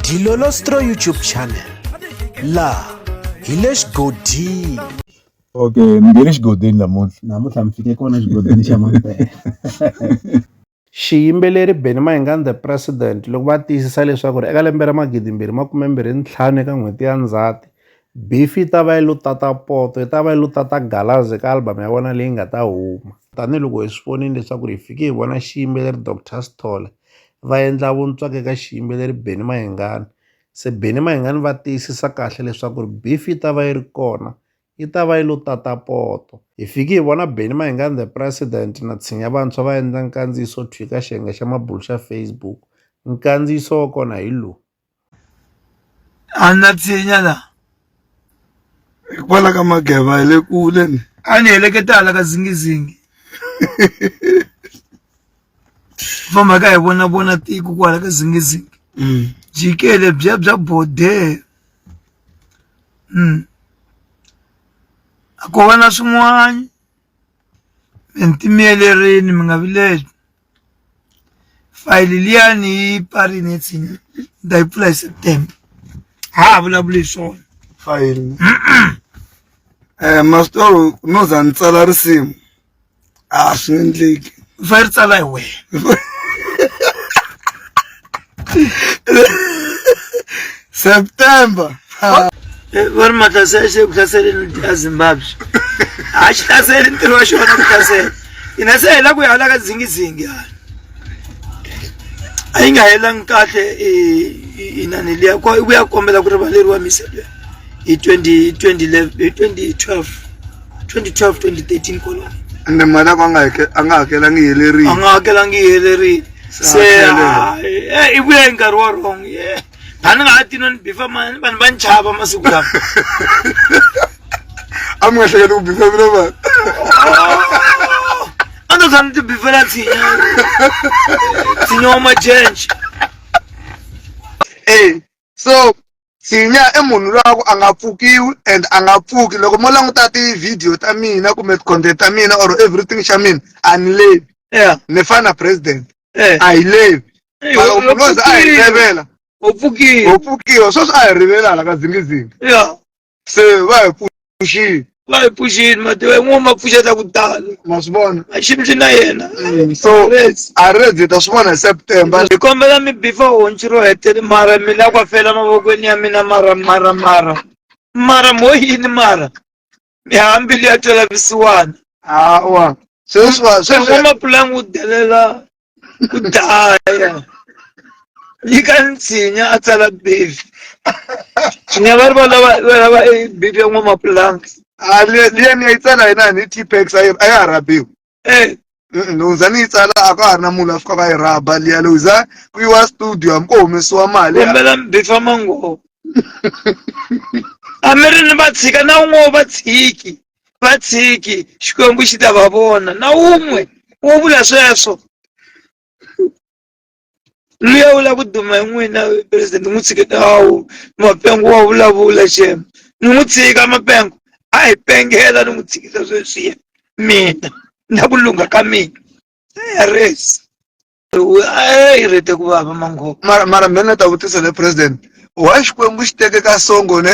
Dilolostro YouTube channel laha hi le xigodini okay mi nge le xigodini namuntlha namuntlha mi fike kona xigodini xa mampela xiyimbeleri Benny Mayengani the president loko va tiyisisa leswaku ri eka lembe ra magidi mbirhi makume mbirhi ntlhanu eka n'hweti ya ndzhati beef yi ta va yi lo tata poto yi ta va yi lo tata galazi eka album ya vona leyi nga ta huma tanihiloko hi swi vonile leswaku ri hi fike hi vona xiyimbeleri Doctor Sithole va endla vuntswaka eka xiyimbeleri Benny Mayengani se Benny Mayengani va tiyisisa kahle leswaku ri beef yi ta va yi ri kona yi ta va yi lo tata poto hi fiki hi vona Benny Mayengani the president na tshinya vantshwa va endla nkandziyiso thwi ka xiyenge xa mabulo xa Facebook nkandziyiso wa kona hi lowu a na tshinya la hikwalaho ka mageva hi le kule ni a ni heleketa hala ka zingizingi famba ka hi vona vona tiko kwala ka zingizingi mm. jikele bya bya bode mm. a ko va na swin'wana mi ntimiyelerini mi nga vileli fayili liya ni yi parile ntsini ni ta yi pfula hi september ha ha vulavuli hi swona fayili um eh, masitoro no za ni tsala risimu a swi endleki u fanele ri tsala hi wena september vori matlasi ya xeku hlaseleni ti ya zimbabwe a xi hlaseli ntirho wa xona ku hlasela ina se hela ku ya hala ka dzingizingi hala a yi nga helangi kahle inani liya ku ya kombela ku rivaleriwa misele hi 2012 2012 2013 kwalano ende mali ako a nga hakelangi yi helerile a nga hakelangi yi helerile se i vuya hi nkarhi wa wrong a ni nga ha tino ni bifa mani vanhu va ni chava masiku lama a mi nga hleketi ku bifa mina vanhu a ni tshwana ti bifela tshinya tshinya wa majenje e so sinya i munhu loyi a ku a nga pfukiwi and a nga pfuki loko mo languta ti-video ta mina kumbe ti-content ta mina or everything xa mina a ni levi yeah. ni fana na president yeah. a hi levi loko munhu oze a hi levela u pfukiwe u pfukiwe sweswi a hi rivelala ka zingizingi yeah. se va hi pfuxile va hi pfuxile mativa yin'we ma pfuxeta ku tala ma swi vona a xi ndzi na yena Mm, so Yes. a rezi ta swi vona hi september ndzi kombela mi bifa honci ro hetele mara mi la kwa fela mavokweni ya mina mara mara mara mara mo yini mara mi hambili ya tolavisiwana awa sweswi va- sweswi n'wamapulanga u delela ku dlaya yi ka nsinya a tsala bifi nya va ri va lava va lava e bifi ya n'wamapulanga a le- liya ni ya yi tsala yena ni t-pex a yi a ya ha rabiwi e Mm, loko za ni yi tsala a ka ha ri na munhu a fika va yi raba liya loko za ku yiwa studio hambi ko humesiwa mali kombela bifi ya mangovo a mi ri ni va tshika na un'we va tshiki vatsiki xikwembu xi ta va vona na wun'we wo vula sweswo luya wu lava ku duma hi n'wina president n'wi tshiketa awu mapengo wa vulavula xema ni n'wi tshika mapengo a hi pengela ni n'wi tshikisa sweswiya mina na ku lungha ka mina ayaresi a yi rete ku vava mangopa mara mara mina ta vutisa le president wa xikwembu xi teke ka songo ne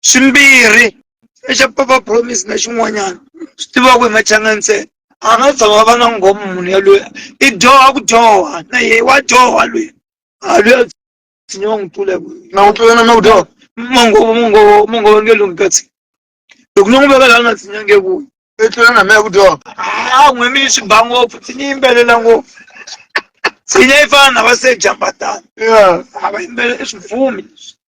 swimbirhi xa papa promise na xin'wanyana swi tivaka hi machanga ntsena a nga tshama va nga nghomi munhu yaloye i dyoha ku dyoha na ye wa dyoha loyi a loyi a tshinya wa n'wi tlula na ku tlulana na ku dyoha mongovo mongovo mongovo nge lungi katsi loko no n'wi veka laha na tshinya nge vuyi i tlula na mehe ku dyoha a n'wi mi swi ba ngopfu tshinya yimbelela ngopfu tshinya yi fana na va se jambatana a va yimbelela i swibvumi leswi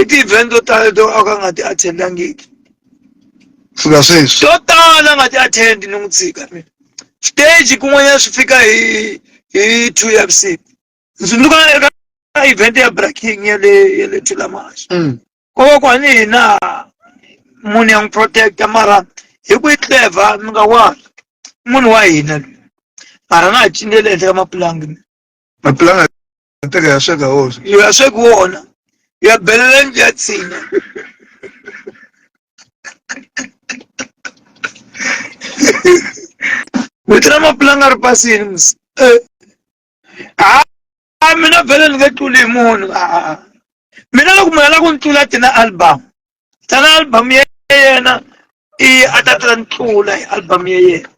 i ti-event to tala to a ka nga ti attendangiki fika sweswi to tala nga ti attend ni n'wi tshika mina stage kun'wanyana swi fika hi hi two ya vusiku ndzi tsundzuka eka event ya breaking ya le ya le thulamaxa mm. ko va ku hani hina munhu ya n'wi protecta mara hi ku yi clever mi nga wala munhu wa hina loyi mara na ha cinele ehenhla ka mapulangi mapulanga Ntaka ya shaka hozo. iyo yashe kuona yabhelela njatsina vitira mapulanga ri pasini musi Eh. Ah, ah, mina vhele ni nge tluli hi munhu Ah, ah, ah. mina loko munhu a lava ku ni tlula tina album tana album ya yena i a ta ta ni tlula hi album ya yena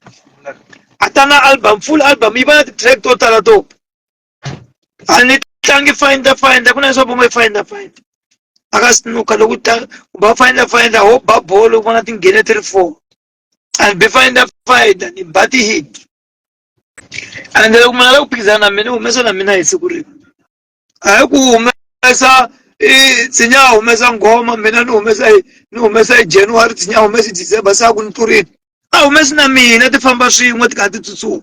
a ta na album full album yi va na ti-track to tala to a ni tlangi find the find ku na leswo va ngo find the find aka sinuka loko ta ku ba find the find ho ba bolo ku vona tinghene ti ri four and be find the find ni ba ti hit and loko mina la ku phikizana na mina humesa na mina hi siku rin'we hayi ku humesa tsinya a humesa nghoma mina ni humesa ni humesa hi january tsinya a humesa hi december se a ku ni tlurile a humesi na mina ti famba swin'we ti kha ti tsutsuma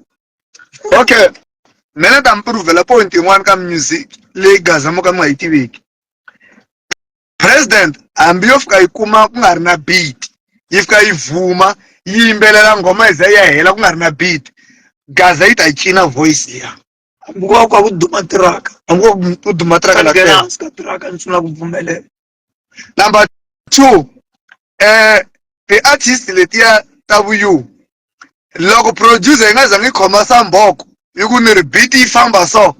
okay me ni ta mi puruvhela point yin'wana ka music leyi gaza mo ka mi nga yi tiveki president hambi yo fika yi kuma ku nga ri na beat yi fika yi vhuma yi yimbelela nghoma yi za yi ya hela ku nga ri na beat gaza yi ta yi cina voice liya hambi ko va ku va ku duma tiraka hambi ko va ku duma tiraka la tiraka ni sungula ku pfumelela Number two, eh ti-artist letiya ta vuyu loko producer yi nga zangi khoma samboko yi ku ni ri beat yi famba so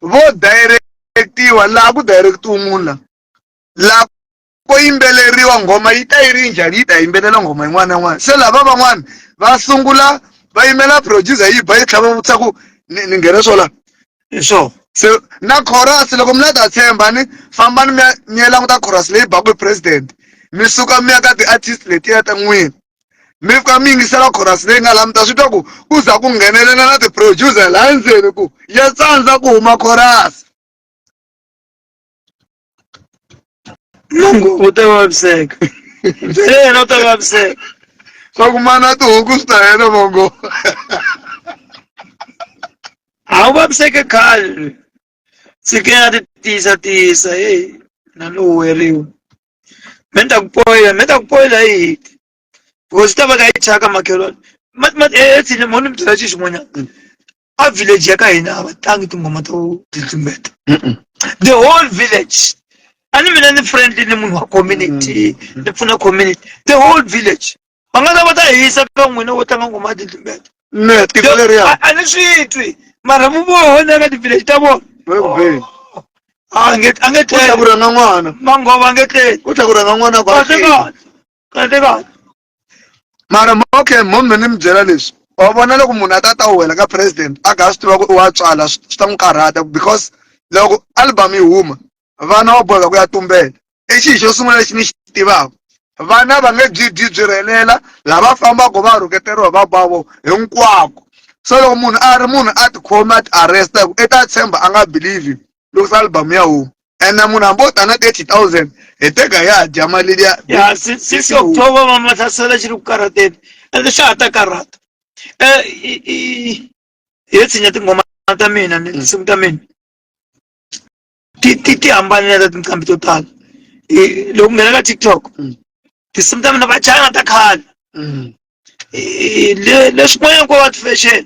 vo direct-iwa laha ku direct-iwa munhu la laha ko yimbeleriwa nghoma yi ta yi ri njhani yi ta yimbelela nghoma yin'wana na yin'wana se lava van'wana va sungula va yimela producer yi ba yi tlhava vutisa ku ni ni nghene swo la so se na chorus loko mi la ta tshemba ni fambani mi ya mi ya languta chorus leyi baku hi president mi suka mi ya ka ti-artist letiya ta n'wina mi fika mi yingisela chorus leyi nga la mi ta swi twa ku ku za ku nghenelela na ti-producer laha ndzeni ku ya tsandza ku huma chorus mungu u ta vaviseka se yena u ta vaviseka swa ku mana tihuku swi ta hela mongo a wu vaviseke khale tshike ya ti tiyisa tiyisa heyi na ni huweriwa me ni ta ku poyila me ta ku poyila hi hiti because ta va ka yi thyaka makhelwani etshini mo ni mi byela xi xin'wanyana a village ya ka hina a va tlangi tinghoma to titlumbeta the whole village a ni mina ni friendly ni munhu wa community mm. ni pfuna community the whole village va nga ta va ta hisa ka n'wina wo tlanga nghoma ya titlumbeta ne tiko leriya a ni swi twi mara mu vona ka ti-village ta vona a nge a nge tlhela ku rhanga n'wana manghova a nge tlheli u tlhela ku rhanga n'wana kahle kahle kahle mara okay mom ni mi byela leswi wa vona loko munhu a ta ta wela ka president a ga swi tiva ku i wa tswala swi ta n'wi karhata because loko album yi huma vana wa boheka ku ya tumbela i xi xo sungula lexi ni xi tivaka vana va nge byi byi byi rhelela lava fambaka va rhuketeriwa va bavo hinkwako so loko munhu a ri munhu a tikhomi a ti arresta hi ku i ta tshemba a nga believe ló sá album yà o ẹnna mu na bó tana thirty thousand ètè gà yà jama lídìá. ya si si si october ma mata sala shiru kara te el sha ata kara e i i e tsinya ti ngoma ta mina ni sim ta mina ti ti ti ambani na tin kambi total e lo ngena ka tiktok Mm. ti sim ta mina ba chana ta khala e le le shmoya ko wat fashion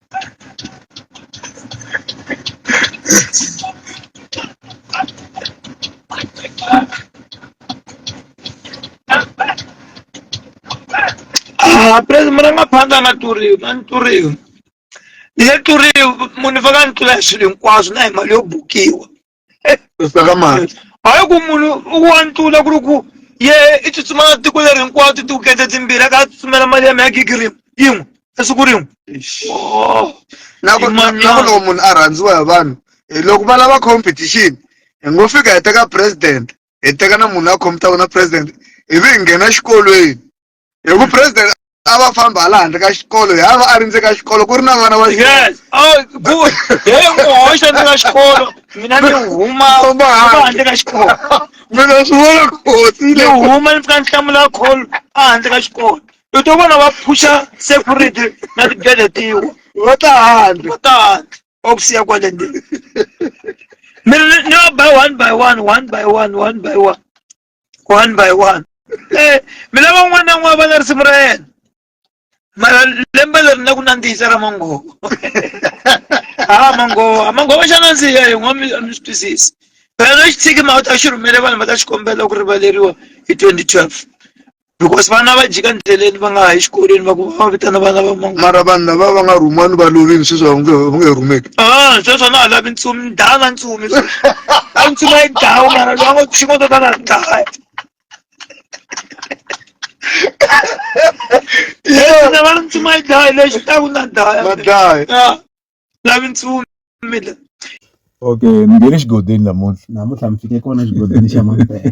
Ah, praise murangaphandza nga tluriwi nga ni tluriwi ni nge tluriwi munhu ni faka ni tlula hi swilo hinkwaswo na hi mali yo bukiwa sakamati hayi ku munhu u wa ntula ku ri ku ye i tsutsuma tiko leri hinkwawo titiwukete timbirhi a ka a tsutsumela mali ya maya gigi rin'we yin'we esiku rin'we nako Imanyana. nako loko munhu a rhandziwa hi vanhu eh, loko va lava competition hi ngo fika hi teka president hi teka na munhu la khomitaka na president ivi hi nghena xikolweni hi ku president a va famba hala handle ka xikolo hi ava a ri ndze ka xikolo ku ri na vana va yes oh good he n'wi hoxa ndze ka xikolo mina ni huma Famba huma handle. handle ka xikolo mina swi vona kotsi ni huma ni fika ni hlamula call a handle ka xikolo u to vona va phusha security na tigede tiwa va ta handle va ta handle va ku siya kwale ndzeni mina ni- ni va by one by one one by one one by one one by one eh mi lava un'wana na un'wana va na risimu ra yena mara lembe leri na ku nandzihisa ra mangovo a mangovo a mangovo xa nandziha hi n'wa mi swi twisisi phela lexi tshiki ma u ta xi rhumele vanhu va ta xi kombela ku rivaleriwa hi 2012 because vana va jika ndleleni va nga ha yi xikolweni va ku va vitana vana va mangu mara vanhu lava va nga rhumiwa ni va lovini sweswi va nge va nge rhumeki ah sweswo na ha lavi ntsumi ni daya na ntsumi a ntsumi a yi dawu mara loyi a ngo xingo to tala ni daya na va ntsumi a yi daya lexi ta ku na daya madlaya Ah, lavi ntsumi la okay mi nghene xigodeni namuntlha namuntlha mi fike kona xigodini xa mampela